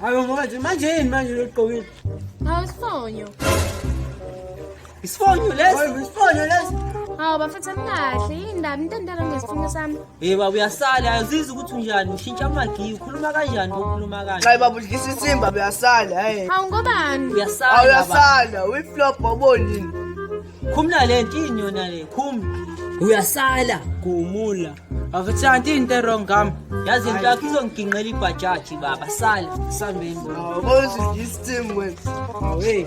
Hayo manje manje yini manje loqokile? Hawu isifonyo. Isifonyo lesi, isifonyo lesi. Hawu bafethu anikahle yini ndaba into endala ngesifonyo sami. Hey baba uyasala ayazizi ukuthi unjani ushintsha amagiya ukhuluma kanjani ukhuluma kanjani Hayi baba udlisa isimba uyasala hey. Hawu ngobani? Uyasala. Hawu uyasala uyiflop obonini. Khumula le nto yini yona le khumula. Uyasala gumula. Avithandi into wrong ngam. Yazi into yakho izongigingqela ibhajaji baba sala sambeni. Hawu bozidlisa isimba. Hawu hey.